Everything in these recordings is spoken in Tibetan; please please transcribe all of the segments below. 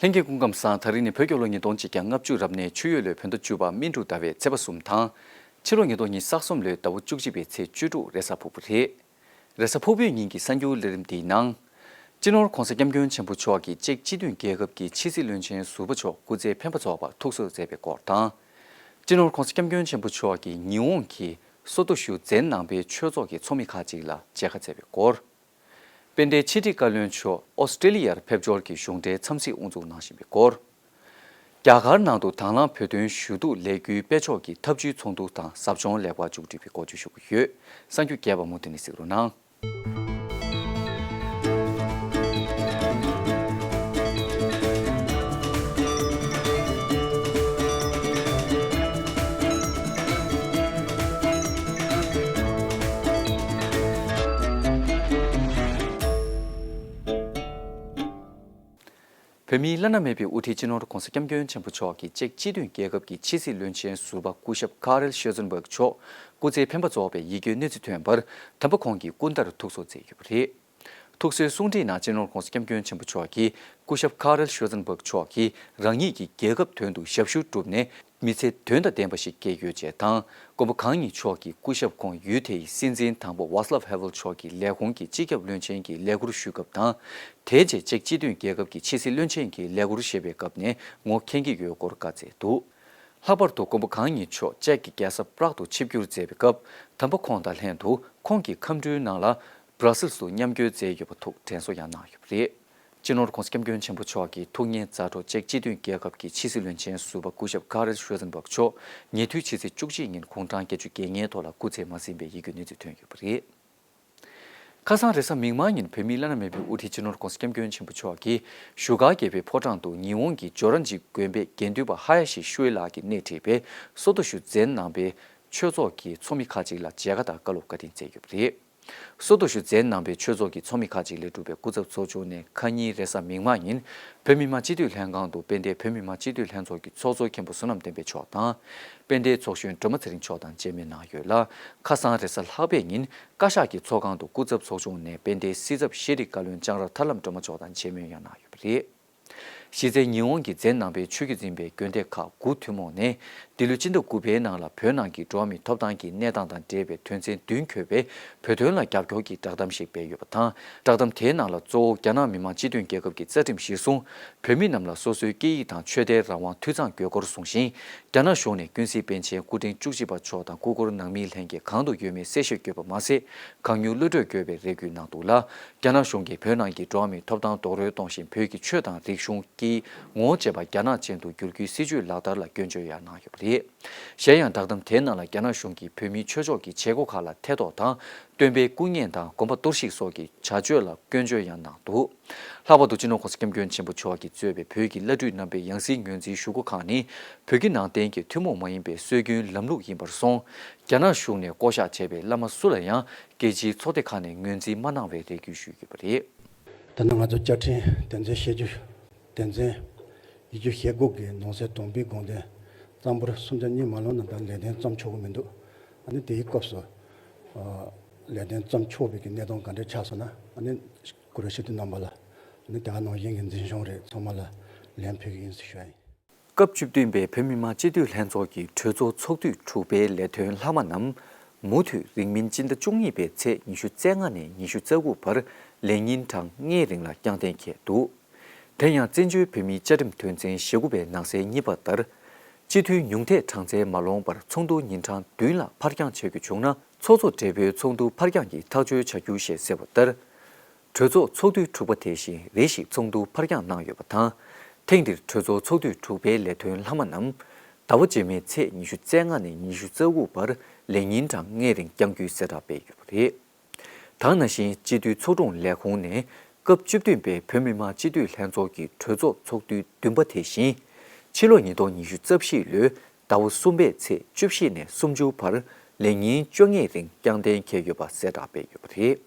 ལྷན་རྒྱས་སྐུ་ཁམས་སང་ད་རིང་ནས་བོད་སྐྱོབ་ལོ་ཉིས་སྟོང་གཅིག་གྱ་ལྔ་བཅུ་རབ་གནས་ཆུ་ཡོས་ལོའི་བོད་ཟླ་བཅུ་པ་སྨིན་དྲུག་ཟླ་བའི་ཚེས་པ་གསུམ་དང། ཕྱི་ལོ་ཉིས་སྟོང་ཉིས་ས་གསུམ་ལོའི་ཟླ་བོ་བཅུ་གཅིག་པའི་ཚེས་བཅུ་དྲུག་རེས་གཟའ་ཕུར་བུ་རེད། རེས་གཟའ་ཕུར་བུའི་ཉིན་གྱི་གསར་འགྱུར་གླེགས་རིམ་འདིའི་ནང། སྤྱི་ནོར ྋགོང་ས ྋསྐྱབས་མགོན་ཆེན་པོ་མཆོག་གིས་ཅེཀ་སྤྱི་མཐུན་རྒྱལ་ཁབ་ཀྱི་ཕྱི་སྲིད་བློན་ཆེན་ཟུར་པ་མཆོག་སྐུ་ཚེ་འཕེན་པ་རྫོགས་པར་ཐུགས་གསོ་མཛད་པའི་སྐོར་དང། སྤྱི་ནོར ྋགོང་ས ྋསྐྱབས་མགོན་ཆེན་པོ་མཆོག་གིས་ཉི་འོང་གི་སོ་ཏོ་བཞུ་རྩའི་ནང་པའི་ཆོས་ཚོགས་ཀྱི་ཚོགས་མི་ཁག་ཅིག་ལ་མཇལ་ཁ་མཛད་པའི་སྐོར། དཔལ་ལྡན་ཕྱི་དྲིལ་བཀའ་བློན་མཆོག་ཨོ་སི་ཀྲེ་ལི་ཡར་ཕེབས་འབྱོར་གྱི་གཞུང་འབྲེལ་འཚམས་གཟིགས་དབུ་འཛུགས་གནང་བཞིན་པའི་སྐོར། རྒྱ་གར་ནང་དུ་དྭང་བླངས་བོད་དོན་ཞུ་གཏུག་ལས་འགུལ་སྤེལ་ཕྱོགས་ཀྱི་ཐབས་བྱུས་ཚོགས་འདུ་དང་ཟབ་སྦྱོང་ལེགས་པར་མཇུག་སྒྲིལ་བའི་སྐོར་བརྗོད་ཞུ་གི་ཡོད་ས་རྒྱུ་རྒྱས་པ་མུ་མཐུད་ནས་གཟིགས་རོགས་གནང། བོད་མིའི་བླ་ན་མེད་པའི་དབུ་ཁྲིད་སྤྱི་ནོར ྋགོང་ས ྋསྐྱབས་མགོན་ཆེན་པོ་མཆོག་གི་ཅེག་སྤྱི་མཐུན་རྒྱལ་ཁབ་ཀྱི་ཕྱི་སྲིད་བློན་ཆེན་ཟུར་པ་སྐུ་ཞབས་ཀཱ་རེལ་ཤེར་ཟུར་འབག་མཆོག་སྐུ་ཚེའི་འཕེན་པ་རྫོགས་པའི་ཡིད་སྐྱོའི་གནས་ཚུལ་ཐོན་པར་དམ་པ་ཁོང་གིས་སྐུ་འདར་ཐུགས་གསོ་མཛད་ཡོད་པ་རེད། ཐུགས་གསོའི་གསུང་འཕྲིན་ནང་གཅེན་རོང་ཁོངས་སུ་སྐྱབས་མགོན་ཆེན་པོ་མཆོག་གིས་སྐུ་ཞབས་ཁཱ་རལ་ཤོལ་ཙན་བྷག་མཆོག་གིས་རང་ཉིད་ཀྱིས་རྒྱལ་ཁབ་དོན་དུ་ཞབས་ཞུ་བསྒྲུབས་ནས་མི་ཚེ་དོན་དང་ལྡན་པ་ཞིག་སྐྱེལ་ཡོད་ཅེས་དང་མགོན་པོ་གང་ཉིད་མཆོག་གིས་སྐུ་ཞབས་ཁོང་ཡུལ་དེ་ཡི་སྲིད་འཛིན་དང་པོ Vaclav Havel མཆོག་གི་ལས་ཁུངས་ཀྱི་སྤྱི་ཁྱབ་བློན་ཆེན་གྱི་ལས་ཁུར་ཞུས་སྐབས་དང། དེའི་རྗེས་ཅེཀ་སྤྱི་མཐུན་རྒྱལ་ཁབ་ཀྱི་ཕྱི་སྲིད་བློན་ཆེན་གྱི་ལས་ཁུར་བཞེས་པའི་སྐབས་ནས་ངོ་འཁེན་གྱི་ཡོད་སྐོར་བཀའ་བསྩལ་འདུག་ལྷག་པར་དུ་མགོན་པོ་གང་ཉིད་མཆོག་ཅེཀ་གི་རྒྱལ་ས Prague དུ་ཆིབས་བསྒྱུར་མཛད་པའི་སྐབས་དམ་པ་ཁོང་དང་ལྷན་དུ་ཁོང་གི་ཁམས་འཕྲུལ་ནང་ལ་ས་རཱ་སིལ་སུ་མཉམ་སྐྱོད་མཛད་ཡོད་པ་ཐུགས་དྲན་གསོ་ཡང་གནང་ཡོད་པ་རེད། སྤྱི་ནོར ྋགོང་ས ྋསྐྱབས་མགོན་ཆེན་པོ་མཆོག་གི་ཐུགས་གཉེར་མཛའ་གྲོགས་ཅེཀ་སྤྱི་མཐུན་རྒྱལ་ཁབ་ཀྱི་ཕྱི་སྲིད་བློན་ཆེན་ཟུར་པ་སྐུ་ཞབས་ཀཱ་རེལ་ཧྲོལ་ཙེན་བྷག་མཆོག་ཉེ་དུས་ཕྱི་ཚེས་བཅུ་གཅིག་ཉིན་དགུང་གྲངས་བརྒྱད་ཅུ་བརྒྱད་ལྔའི་ཐོག་ལ་སྐུ་ཚེ་མ་ཟིན་པའི་ཡིད་སྐྱོ་གནས་ཚུལ་ཐོན་ཡོད་པ་རེད། ཁ་སང་རེས་གཟའ་མིག་དམར་ཉིན་བོད་མི་བླ་ན་མེད་པའི་དབུ་ཁྲིད་སྤྱི་ནོར ྋགོང་ས ྋསྐྱབས་མགོན་ཆེན་པོ་མཆོག་གི་བཞུགས་སྒར་རྒྱལ་བའི་ཕོ་བྲང་དུ་ཉི་འོང་གི་ཇོ་ར་འཇིགས་དགོན་པའི་དགེ་འདུན་པ་ཧ་ཡ་ཤི་ཤུའེ་ལགས་ཀྱིས་སྣེ་ཁྲིད་པའི་སོ་ཐོ་ཞུ་འཛིན་གནང་པའི་ཆོས་ཚོགས་ཀྱི་ཚོགས་མི་ཁག་ཅིག་ལ་མཇལ་ཁ་དང་བཀའ་སློབ་བཀའ་དྲིན་སྩལ་ཡོད་པ་རེད། སོགས་དུ་ཞུ་ཛའི་ནང་པའི་ཆོས་ཚོགས་ཀྱི་ཚོགས་མི་ཁག་ཅིག་ལས་གྲུབ་པའི་སྐུ་ཚབ་ཚོགས་ཆུང་ནས་ཁ་ཉིན་རེས་གཟའ་མིག་དམར་ཉིན་བོད་མི་མང་སྤྱི་འཐུས་ལྷན་ཁང་དུ་དཔལ་ལྡན་བོད་མི་མང་སྤྱི་འཐུས་ལྷན་ཚོགས་ཀྱི་ཚོགས་གཙོ་མཁན་པོ་བསོད་ནམས་བསྟན་འཕེལ་མཆོག་དང། དཔལ་ལྡན་ཚོགས་གཞོན་སྒྲོལ་མ་ཚེ་རིང་མཆོག་དང་བཅས་མི་གནང་ཡོད་ལ། ཁ་སང་རེས་གཟའ་ལྷག་པའི་ཉིན་བཀའ་ཤག་གི་ཚོགས་ཁང་དུ་སྐུ་ཚབ་ཚོགས་ཆུང་ནས་དཔལ་ལྡན་སྲིད་ཚབ་ཤེས་རིག་བཀའ་བློན་ལྕང་ར་ཐར་ལམ་སྒྲོལ་མ་མཆོག་དང་བཅས་མོལ་ཡང་གནང་ཡོད་པ་རེད། གཞི་རྩའི་ཉི་འོང་གི་རྫས་ནང་པའི་ཆོས་བརྒྱུད་འཛིན་པའི་དགོན་སྡེ་ཁག་དགུ་ཐུན་མོང་ནས་འདི་ལོའི་སྤྱི་ཟླ་དགུ་པའི་ནང་ལ་བོད་ནང་གི་འགྲོ་བ་མིའི་ཐོབ་ཐང་གི་གནས་སྟངས་དང་འབྲེལ་བའི་དོན་ཚན་བདུན་འཁྱོལ་བའི་བོད་དོན་ལ་རྒྱབ་སྐྱོར་གྱི་བསྒྲགས་གཏམ་ཞིག་སྤེལ་ཡོད་པ་དང་བསྒྲགས་གཏམ་དེའི་ནང་ལ་གཙོ་བོ་རྒྱ་ནག་མི་དམངས་སྤྱི་མཐུན་རྒྱལ་ཁབ་ཀྱི་རྩ་ཁྲིམས་གཞིར་བཟུང་བོད་མི་རྣམས་ལ་སོ་སོའི་སྐད་ཡིག་དང་ཆོས་དད་རང་དབང་འཐུས་ཚང་དགོས་སྐོར་གསུངས་ཤིང་རྒྱ་ནག་གཞུང་ནས་ཀུན་གཟིགས་པཎ་ཆེན་སྐུ་ཕྲེང་བཅུ་གཅིག་པ་མཆོག་དང་སྐུ་འཁོར་ནང་མི་ལྷན་རྒྱས་གང་དུ་ཡོད་མེད་གསལ་བཤད་བསྐྱོད་པ་མ་ཟད་གང་མྱུར་གློད་བཀྲོལ་དགོས་པའི་རེ་སྐུལ་གནང་འདུག་ལ་རྒྱ་ནག་གཞུང་གིས་བོད་ནང་གི་འགྲོ་བ་མིའི་ཐོབ་ཐང་རྡོག་རོལ་གཏོང་བཞིན་བོད་ཀྱི་ཆོས་དང་རིག་གཞུང་སྐྱིད་ངོ་བྱེད་པ་རྒྱ་ནག་ཅན་དུ་བསྒྱུར་རྒྱུའི་སྲིད་ཇུས་ལག་བསྟར་ལ་སྐྱོན་བརྗོད་ཡང་གནང་ཡོད་པ་རེད། གཞན་ཡང་བསྒྲགས་གཏམ་དེའི་ནང་ལ་རྒྱ་ནག་གཞུང་གིས་བོད་མིའི་ཆོས་ཕྱོགས་ཀྱི་བྱེད་སྒོ་ཁག་ལ་ཐེ་གཏོགས་དང་སྟོན་པའི་སྐུ་བརྙན་དང་དགོན་པ་གཏོར་བཤིག་སོགས་ཀྱི་བྱ་སྤྱོད་ལ་སྐྱོན་བརྗོད་ཡང་གནང་འདུག་ལྷག་པར་དུ་སྤྱི་ནོར ྋགོང་ས ྋསྐྱབས་མགོན་ཆེན་པོ་མཆོག་གིས་གཙོས་པའི་བོད་ཀྱི་བླ་སྤྲུལ་རྣམ་པའི་ཡང་སྲིད་ངོས་འཛིན་ཞུ་སྒོ་ཁག་ནི་བོད་ཀྱི་ནང་བསྟན་གྱི་ཐུན་མོང་མ་ཡིན་པའི་སྲོལ་རྒྱུན་ལམ་ལུགས་ཡིན་པར་སོང། རྒྱ་ནག་གཞུང་ནས་བསྐོ་བཞག་བྱས་པའི་བླ་མ་སུ་ལ་ཡང་རྒྱལ་སྤྱིའི་ཚོགས་སྡེ་ཁག་ནས་ངོས་འཛིན་མ་གནང་བའི་རེ་སྐུལ་ཞུས་ཡོད་པ་རེད། ད་ནི་ང་ཚོ་བཅའ་ཁྲིམས་བདེན་འཚོལ་བཤད་རྒྱུ། བདེན་འཚོལ། ཡིག་རྒྱུགས་ཞེ་དགུ་གི་ནང་གསེས་དོམ་པའི་དགོངས་དོན། གཙང་པོར་སུམ་ཆ་གཉིས་མ་ལོན་ན་ད་ལས་དོན་བརྩམས་ཆོག་གི་མི་འདུག་ཨ་ནི་དེའི་སྐབས་སུ། ལས་དོན་བརྩམས་ཆོག་དཔེ་གི་གནད་དོན་ག་འདྲ་ཆགས་སོང་ན་ཨ་ནི་ཀུ་རུ་ཤི་ཏུ་རྣམ་པ་ལ། ཨ་ནི་དེ་ག་ནང་བཞིན་གྱི་འཛིན་སྐྱོང་རེ་ཚང་མ་ལ་ལན་ཕུལ་གི་ཡིན་ཟེར་ཞུ་ཡ་ཡིན། སྐབས་བཅུ་བདུན་པའི་བོད་མི་མང་སྤྱི་འཐུས་ལྷན་ཚོགས་ཀྱི་གྲོས་ཚོགས་ཚོགས་དུས་དྲུག་པའི་ལས་དོན་ལྷག་མ་རྣམས། མུ་མཐུད་རིང་མིན་སྤྱི་ཟླ་བཅུ་གཉིས་པའི་ཚེས་ཉི་ཤུ་རྩ་ལྔ་ནས་ཉི་ཤུ་རྩ་དགུ་བར་ལས་ཉིན་གྲངས་ལྔའི་རིང་ལ་བསྐྱང་གཏན་འཁེལ་འདུག་དེ་ཡང་བཙན་བྱོལ་བོད་མིའི་བཅའ་ཁྲིམས་དོན་ཚན་ཞེ་དགུ་པའི་ནང་གསལ་གཉིས་པ་ལྟར། སྤྱི་འཐུས་ཉུང་མཐའི་གྲངས་ཚད་མ་ལོངས་པར་ཚོགས་འདུ་ཉིན་གྲངས་བདུན་ལ་འཕར་འགྱངས་བྱ་རྒྱུ་བྱུང་ན་ཚོགས་གཙོ་སྦྲེལ་པོའི་ཚོགས་འདུ་འཕར་འགྱངས་ཀྱི་ཐག་གཅོད་བྱ་རྒྱུ་ཞེས་གསལ་བ་ལྟར། གྲོས་ཚོགས་ཚོགས་དུས་དྲུག་པ་དེ་བཞིན་རེ་ཞིག་ཚོགས་འདུ་འཕར་འགྱངས་གནང་ཡོད་པ་དང། ཐེངས་འདིར་གྲོས་ཚོགས་ཚོགས་དུས་དྲུག་པའི་ལས་དོན་ལྷག་མ་རྣམས། ཟླ་བ་རྗེས་མའི་ཚེས་ཉི་ཤུ་རྩ་ལྔ་ནས་ཉི་ཤུ་རྩ་དགུ་བར་ལས་ཉིན་གྲངས་ལྔའི་རིང་བསྐྱང་རྒྱུའི་གསལ་བསྒྲགས་སྤེལ་ཡོད་པ་རེད། དང་ན་གཞིན་སྤྱི་འཐུས་ཚོགས་དྲུང་ལས་ཁུངས་ནས་སྐབས་བཅུ་བདུན་པའི་བོད་མི་མང་སྤྱི་འཐུས་ལྷན་ཚོགས་ཀྱི་གྲོས་ཚོགས་ཚོགས་དུས་བདུན་པ་དེ་བཞིན། ཕྱི་ལོ་ཉིས་སྟོང་ཉི་ཤུ་རྩ་བཞི་ལོའི་ཟླ་བ་གསུམ་པའི་ཚེས་བཅུ་བཞི་ནས་སུམ་ཅུ་བར་ལས་ཉིན་བཅོ་ལྔའི་རིང་བསྐྱང་གཏན་འཁེལ་ཡོད་པ་གསལ་བསྒྲགས་སྤེལ་ཡོད་པ་རེད།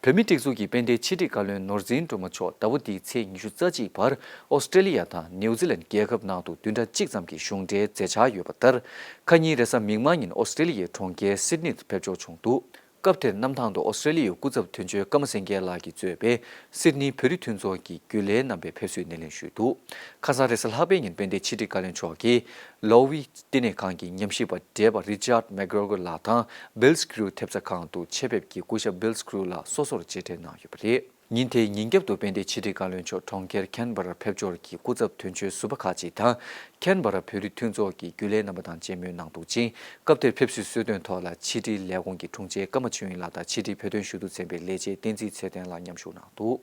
བོད་མི་སྒྲིག་འཛུགས་ཀྱི་དཔལ་ལྡན་ཕྱི་དྲིལ་བཀའ་བློན་ནོར་འཛིན་སྒྲོལ་མ་མཆོག་ཟླ་བོ་འདིའི་ཚེས་ཉི་ཤུ་རྩ་གཅིག་བར་ཨོ་སི་ཀྲེ་ལི་ཡ་དང་ནེའུ་ཙི་ལན་རྒྱལ་ཁབ་ནང་དུ་བདུན་ཕྲག་གཅིག་ཙམ་གྱི་གཞུང་འབྲེལ་མཛད་འཆར་ཡོད་པ་ལྟར། ཁ་ཉིན་རེས་གཟའ་མིག་དམར་ཉིན་ཨོ་སི་ཀྲེ་ལི་ཡའི་གྲོང་ཁྱེར་སིད་ནི་དུ་ཕེབས་འབྱོར་བྱུང་འདུག་སྐབས་དེར་གནམ་ཐང་དུ་ཨོ་སི་ཀྲེ་ལི་ཡའི་སྐུ་ཚབ་དོན་གཅོད་ཀརྨ་སེང་གེ་ལགས་ཀྱིས་གཙོས་པའི་སིད་ནི་བོད་རིགས་མཐུན་ཚོགས་ཀྱི་རྒྱུན་ལས་རྣམ་པས་ཕེབས་བསུའི་སྣེ་ལེན་ཞུས་འདུག་ཁ་སང་རེས་གཟའ་ལྷག་པའི་ཉིན་དཔལ་ལྡན་ཕྱི་དྲིལ་བཀའ་བློན་མཆོག་གིས་ལོའུ་ཝི་ལྟེ་གནས་ཁང་གི་ཉམས་ཞིབ་པ་བགྲེས་པ Richard McGregor ལགས་དང Bill Skrew ཐེབས་རྩ་ཁང་དུ་ཆེད་ཕེབས་ཀྱིས་སྐུ་ཞབས Bill Skrew ལགས་སོ་སོར་གཅེས་སྤྲས་གནང་ཡོད་པ་རེད། ཉིན་དེའི་ཉིན་རྒྱབ་ཏུ་དཔལ་ལྡན་ཕྱི་དྲིལ་བཀའ་བློན་མཆོག་གྲོང་ཁྱེར Canberra ཕེབས་འབྱོར་གྱིས་སྐུ་ཚབ་དོན་གཅོད་ཟུར་པ་ཁག་ཅིག་དང Canberra བོད་རིགས་མཐུན་ཚོགས་ཀྱི་རྒྱུན་ལས་རྣམ་པ་དང་མཇལ་མོལ་གནང་འདུག་ཅིང་སྐབས་དེར་ཕེབས་བསུའི་གསོལ་སྟོན་ཐོག་ལ་ཕྱི་དྲིལ་ལས་ཁུངས་ཀྱི་དྲུང་ཆེ་ཀརྨ་ཆོས་དབྱིངས་ལགས་དང་ཕྱི་དྲིལ་བོད་དོན་ཞུ་གཏུག་ཚན་པའི་ལས་བྱེད་བསྟན་འཛིན་ཚེ་བརྟན་ལགས་མཉམ་ཞུགས་གནང་འདུག་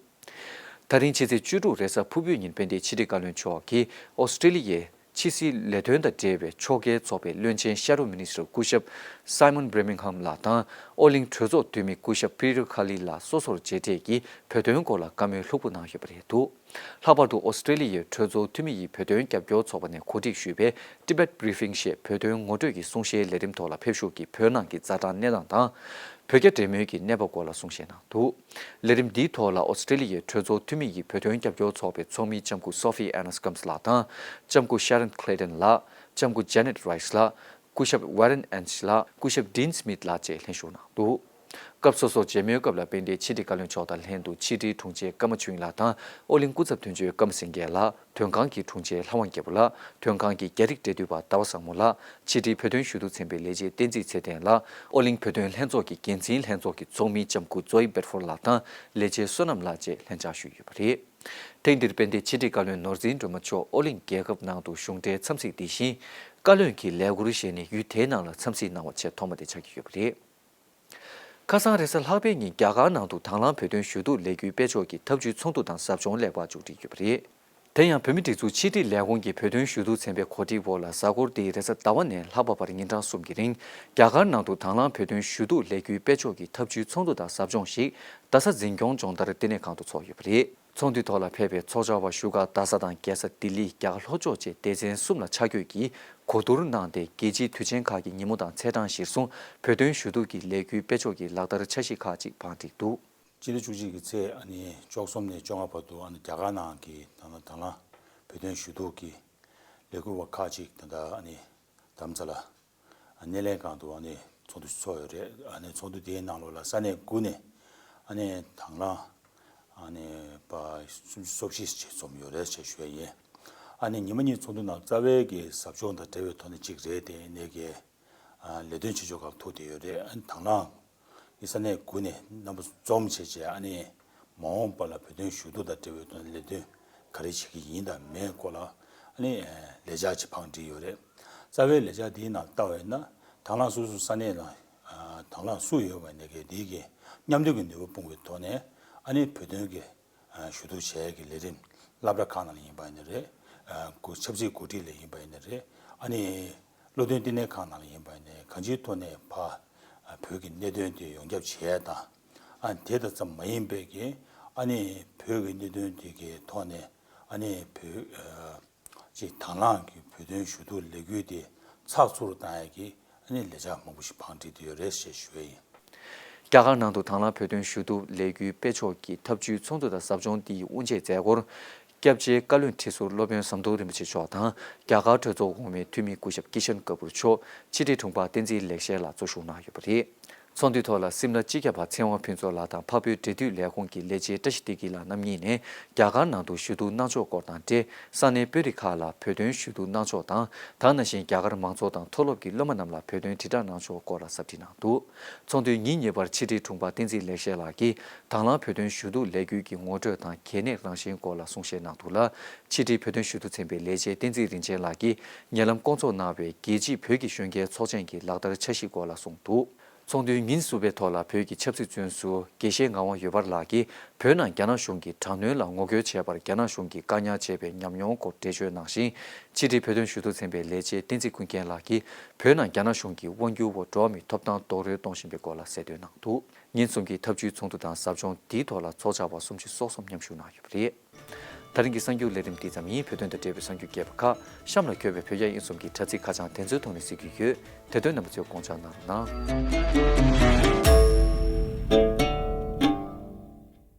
ད་རིང་ཕྱི་ཚེས་བཅུ་དྲུག་རེས་གཟའ་ཕུར་བུའི་ཉིན་དཔལ་ལྡན་ཕྱི་དྲིལ་བཀའ་བློན་མཆོག་གིས Australia ཡི་ཕྱི་སྲིད་ལས་དོན་དང་འབྲེལ་བའི་ཕྱོགས་འགལ་ཚོགས་པའི་བློན་ཆེན་ཤ་རུ་མི་ནི་སིར་སྐུ་ཞབས Simon Birmingham ལགས་དང་ཨོ་གླིང་གྲོས་ཚོགས་འཐུས་མི་སྐུ་ཞབས Peter Khali ལགས་སོ་སོར་མཇལ་འཕྲད་ཀྱིས་བོད་དོན་སྐོར་ལ་བཀའ་མོལ་ལྷུག་པོ་གནང་ཡོད་པ་རེད་འདུག་ལྷག་པར་དུ་ཨོ་སི་ཀྲེ་ལི་ཡའི་གྲོས་ཚོགས་འཐུས་མི་ཡིས་བོད་དོན་རྒྱབ་སྐྱོར་ཚོགས་པ་ནས་གོ་སྒྲིག་ཞུས་པའི Tibet Briefing ཞེས་བོད་དོན་ངོ་སྤྲོད་ཀྱི་གསུང་བཤད་ལས་རིམ་ཐོག་ལ་ཕེབས་བཞུགས་ཀྱིས་བོད་ནང་གི་རྩྭ་ཐང་གནས་སྟངས་དང། བོད་རྒྱ་འབྲེལ་མོལ་གྱི་གནས་བབ་སྐོར་ལ་གསུང་བཤད་གནང་འདུག། ལས་རིམ་འདིའི་ཐོག་ལ་ཨོ་སི་ཀྲེ་ལི་ཡའི་གྲོས་ཚོགས་འཐུས་མི་ཡིས་བོད་དོན་རྒྱབ་སྐྱོར་ཚོགས་པའི་ཚོགས་མི་ལྕམ་སྐུ་སོ་ཧྥི་ཨེ་ནཱས་ཀམས་ལགས་དང་ལྕམ་སྐུ་ཤཱ་རན་ཁླེ་ཏན་ལགས། ལྕམ་སྐུ་ཇཱེ་ནེད་རཱིས་ལགས། སྐུ་ཞབས་ཝེ་རན་ཨན་ཤི་ལགས། སྐུ་ཞབས་ཏིན་སི་མིད་ལགས་བཅས་ལྷན་ཞུགས་གནང་འདུག་སྐབས་སོ་སོར་མཇལ་མོལ་སྐབས་ལ་དཔལ་ལྡན་ཕྱི་དྲིལ་བཀའ་བློན་མཆོག་དང་ལྷན་དུ་ཕྱི་དྲིལ་དྲུང་ཆེ་ཀརྨ་ཆོས་དབྱིངས་ལགས་དང་ཨོ་གླིང་སྐུ་ཚབ་དོན་གཅོད་ཀརྨ་སེང་གེ་ལགས། དོན་ཁང་གི་དྲུང་ཆེ་ལྷ་དབང་རྒྱལ་པོ་ལགས་དོན་ཁང་གི་རྒྱ་རིགས་འབྲེལ་མཐུད་པ་ཟླ་བ་བཟང་མོ་ལགས་ཕྱི་དྲིལ་བོད་དོན་ཞུ་གཏུག་ཚན་པའི་ལས་བྱེད་བསྟན་འཛིན་ཚེ་བརྟན་ལགས་ཨོ་གླིང་བོད་དོན་ལྷན་ཚོགས་ཀྱི་འགན་འཛིན་ལྷན་ཚོགས་ཀྱི་ཚོགས་མི་ལྕམ་སྐུ Zoe Bedford ལགས་དང་ལས་བྱེད་བསོད་ནམས་ལགས་བཅས་ལྷན་བཅར་ཞུས་ཡོད་པ་རེད། ཐེངས་འདིར་དཔལ་ལྡན་ཕྱི་དྲིལ་བཀའ་བློན་ནོར་འཛིན་སྒྲོལ་མ་མཆོག་ཨོ་གླིང་རྒྱལ་ཁབ་ནང་དུ་གཞུང་འབྲེལ་འཚམས་གཟིགས་འདི་བཞིན། བཀའ་བློན་གྱི་ལས་འཁུར་བཞེས་ནས་ཡུལ་དེའི་ནང་ལ་འཚམས་གཟིགས་གནང་བ་ཆེས་ཐོག་མ་དེ་ཆགས་ཀྱི་ཡོད་པ་རེད། ཁ་སང་རེས་གཟའ་ལྷག་པའི་ཉིན་རྒྱ་གར་ནང་དུ་དྭང་བླངས་བོད་དོན་ཞུ་གཏུག་ལས་འགུལ་སྤེལ་ཕྱོགས་ཀྱི་ཐབས་བྱུས་ཚོགས་འདུ་དང་ཟབ་སྦྱོང་ལེགས་པར་མཇུག་སྒྲིལ་ཡོད་པ་རེད། དེ་ཡང་བོད་མི་སྒྲིག་འཛུགས་ཕྱི་དྲིལ་ལས་ཁུངས་ཀྱི་བོད་དོན་ཞུ་གཏུག་ཚན་པའི་གོ་སྒྲིག་འོག་ལ་གཟའ་འཁོར་འདི་རེས་གཟའ་ཟླ་བ་ནས་ལྷག་པ་བར་ཉིན་གྲངས་གསུམ་གྱི་རིང་རྒྱ་གར་ནང་དུ་དྭང་བླངས་བོད་དོན་ཞུ་གཏུག་ལས་འགུལ་སྤེལ་ཕྱོགས་ཀྱི་ཐབས་བྱུས་ཚོགས་འདུ་དང་ཟབ་སྦྱོང་ཞིག་རྡ་ས་འཛིན་སྐྱོང་སྦྱོང་བརྡར་ལྟེ་གནས་ཁང་དུ་ཚོགས་ཡོད་པ་རེད། ཚོགས་འདུའི་ཐོག་ལ་ཕེབས་པའི་ཚོགས་བཅར་བ་བཞུགས་སྒར་རྡ་ས་དང་རྒྱལ་ས་ལྡི་ལི་རྒྱ་གར་ལྷོ་ཕྱོགས་བཅས་སྡེ་ཚན་གསུམ་ལ་ཕྱག་བསྐྱོད་ཀྱིས་གོ་བསྡུར་གནང་སྟེ་རྒྱལ་སྤྱིའི་དུས་ཆེན་ཁག་གི་ཉིན་མོ་དང་ཚེས་གྲངས་གཞིར་བཟུང་བོད་དོན་ཞུ་གཏུག་གི་ལས་འགུལ་སྤེལ་ཕྱོགས་ཀྱི་ལག་བསྟར་འཆར་གཞི་ཁག་ཅིག་བང་བསྒྲིགས་འདུག། སྤྱི་ལེ་བཅུ་གཅིག་གི་ཚེས་བཅོ་གསུམ་ནས་བཅོ་ལྔ་བར་དུ་རྒྱ་གར་ནང་གི་ད་ལ་བོད་དོན་ཞུ་གཏུག་གི་ལས་འགུལ་བ་ཁག་ཅིག་ད་ལྟ་དམ་རྫ་ལ་སྣེ་ལེན་ཁང་དུ་ཚོགས་འདུ་ཚོགས་ཡོད་རེད། ཚོགས་འདུ་དེའི་ནང་ལོགས་ལ་ས་གནས་དགུ་ནས་དང་བླངས་པ་སུམ་ཅུ་སོ་བཞི་བཅས་འཛོམས་ཡོད་རེད་ཅེས་ཞུ་ཡས་ཡིན། ཉིན་མ་གཉིས་ཚོགས་འདུ་ནང་རྩ་བའི་ཟབ་སྦྱོང་དང་འབྲེལ་བའི་ཐོག་ནས་གཅིག་རེད་དེ། ལས་དོན་བྱེད་ཕྱོགས་སྐབས་ཐུག་བསྡད་ཡོད་རེད། དང་བླངས། ཡིག་ཚང་ནས་འགོད་ནས་རྣམ་པ་འཛོམས་བྱས་རྗེས་ཨ་ནེས་མ་འོངས་པ་ལ་བོད་དོན་ཞུ་གཏུག་དང་འབྲེལ་བའི་དོན་ལས་དོན་ག་རེ་བྱེད་ཀྱི་ཡིན་དང་མེད་སྐོར་ལ་ཨ་ནེས་ལས་འཆར་ཆེ་འཕངས་བྲིས་ཡོད་རེད། རྩ་བའི་ལས་འཆར་དེའི་ནང་ལྟ་བས་ན་དྭང་བླངས་སོ་སོའི་ས་གནས་ནང་དྭང་བླངས་སུ་ཡོད་པ་ནས་གལ་ཏེ་གཉམ་སྡོད་ཀྱི་ནུས་པ་སྤུངས་པའི་ཐོག་ནས་ཨ་ནེས་བོད་དོན་གྱི་ཞུ་གཏུག་བྱ་ཡས་ཀྱི་ལས་རིམ་བསླབ་གྲྭ་ཁག་ནང་ལ་ཡིན་པ་ནི་རེད། གུ་ཆབ་སྲིད་གོ་སྒྲིག་ལས་ཡིན་པ་ནི་རེད། ཨ་ནི་བློ་མཐུན་བསྟི་གནས་ཁག་ནང་ལ་ཡིན་པ་ནི་གང་ཅིའི་ཐོག་ནས་ཕ་བོད་ཀྱི་གནད་དོན་དེ་ཡོངས་ཁྱབ་བྱེད་ཡས་དང། ཨ་ནི་དེ་དང་ཙམ་མ་ཡིན་པས་ཀྱི་ཨ་ནི་བོད་ཀྱི་གནད་དོན་དེ་གའི་ཐོག་ནས་ཨ་ནི་བོད། ཅེས་དྭངས་བླངས་ཀྱི་བོད་དོན་ཞུ་གཏུག་ལས་འགུལ་དེ་ཚགས་ཚུད་རུ་གཏང་ཡས་ཀྱི་ཨ་ནི་ལས་འཆར་མང་པོ་ཞིག་བང་བསྒྲིགས་དེ་ཡོད་རེད་ཞེས་ཞུ་བས་ཡིན། རྒྱ་གར་ནང་དུ་དྭངས་བླངས་བོད་དོན་ཞུ་གཏུག་ལས་འགུལ་སྤེལ་ཕྱོགས་ཀྱི་ཐབས་བྱུས་ཚོགས་འདུ་དང་ཟབ་སྦྱོང་འདིའི་དབུ་འབྱེད་མཛད་སྒོར། སྐྱབས་རྗེ་བཀའ་བློན་ཁྲི་ཟུར་སློབ་དཔོན་ཟམ་གདོང་རིན་པོ་ཆེ་མཆོག་དང་རྒྱ་གར་གྲོས་ཚོགས་གོང་མའི་འཐུས་མི་སྐུ་ཞབས་ཀི་ཤཱན་ཀ་པུར་མཆོག་ཕྱི་དྲིལ་དྲུང་འཕར་བསྟན་འཛིན་ལེགས་བཤད་ལགས་གཙོ་བཞུགས་གནང་ཡོད་པ་རེད། ཚོགས་འདུའི་ཐོག་ལ་སིམ་ལ་སྤྱི་ཁྱབ་པ་ཚེ་དབང་ཕུན་ཚོགས་ལགས་དང་འཕགས་བོད་འབྲེལ་མཐུད་ལས་ཁུངས་ཀྱི་ལས་བྱེད་བཀྲ་ཤིས་བདེ་སྐྱིད་ལགས་རྣམ་གཉིས་ནས་རྒྱ་གར་ནང་དུ་ཞུ་གཏུག་གནང་ཕྱོགས་སྐོར་དང་འབྲེལ་ས་གནས་དཔོན་རིགས་ཁག་ལ་བོད་དོན་ཞུ་གཏུག་གནང་ཕྱོགས་དང་ད་ན་བཞིན་རྒྱ་གར་མང་ཚོགས་དང་མཐོ་སློབ་ཀྱི་སློབ་མ་རྣམས་ལ་བོད་དོན་དྲིལ་བསྒྲགས་གནང་ཕྱོགས་སྐོར་ལ་ཟབ་ཁྲིད་གནང་འདུག་ཚོགས་འདུའི་ཉིན་གཉིས་པར་ཕྱི་དྲིལ་དྲུང་པ་བསྟན་འཛིན་ལེགས་བཤད་ལགས་ཀྱིས་དྭང་བླངས་བོད་དོན་ཞུ་གཏུག་ལས་འགུལ་གྱི་ངོ་སྤྲོད་དང་གལ་གནད་རང་བཞིན་སྐོར་ལ་གསུང་བཤད་གནང་འདུག་ལ་ཕྱི་དྲིལ་བོད་དོན་ཞུ་གཏུག་ཚན་པའི་ལས་བྱེད་བསྟན་འཛིན་རིན་ཆེན་ལགས་ཀྱིས་ཉེ་ལམ་བསྐོང་ཚོགས་གནང་བའི་རྒྱལ་སྤྱིའི་བོད་ཀྱི་གཞོན་སྐྱེས་ཚོགས་ཆེན་གྱི་ལག་བསྟར་འཆར་གཞི་སྐོར་ལ་གསུངས་འདུག་ཚོགས་འདུའི་ཉིན་བསུ་བའི་ཐོག་ལ་བོད་ཀྱི་ཆབ་སྲིད་བཙོན་ཟུར་དགེ་བཤེས་ངག་དབང་ཡོད་པར་ལགས་ཀྱིས་བོད་ནང་རྒྱ་ནག་གཞུང་གིས་དྲག་གནོན་ལ་ངོ་རྒོལ་བྱས་པར་རྒྱ་ནག་གཞུང་གིས་བཀག་ཉར་བྱས་པའི་ཉམས་མྱོང་སྐོར་འགྲེལ་བརྗོད་གནང་ཞིང་ཕྱི་དྲིལ་བོད་དོན་ཞུ་གཏུག་ཚན་པའི་ལས་བྱེད་བསྟན་འཛིན་ཀུན་མཁྱེན་ལགས་ཀྱིས་བོད་ནང་རྒྱ་ནག་གཞུང་གིས་དབང་སྒྱུར་འོག་འགྲོ་བ་མིའི་ཐོབ་ཐང་རྡོག་རོལ་གཏོང་བཞིན་པའི་སྐོར་ལ་གསལ་འདོན་གནང་འདུག་ཉིན་གསུམ་གྱི་འཐབ་ཇུས་ཚོགས་འདུ་དང་ཟབ་སྦྱོང་དེའི་ཐོག་ལ་ཚོགས་བཅར་བ་སུམ་ཅུ་སོ་གསུམ་མཉམ་ཞུགས་གནང་ཡོད་པ་རེད། ད་རིང་གི་གསར་འགྱུར་ལས་རིམ་འདི་ཙམ་ཡིན་བོད་དོན་དང་འབྲེལ་བའི་གསར་འགྱུར་རྒྱས་པ་ཁག་གཤམ་ལ་འཁྱོལ་བའི་བོད་རྒྱ་དབྱིན་གསུམ་གྱི་དྲ་ཚིགས་ཁ་བྱང་དེ་ཚོའི་ཐོག་ནས་གཟིགས་རྒྱུ་ཡོད་དེ་དོན་རྣམ་པ་ཚོའི་དགོངས་འཇགས་གནང་རོགས་གནང།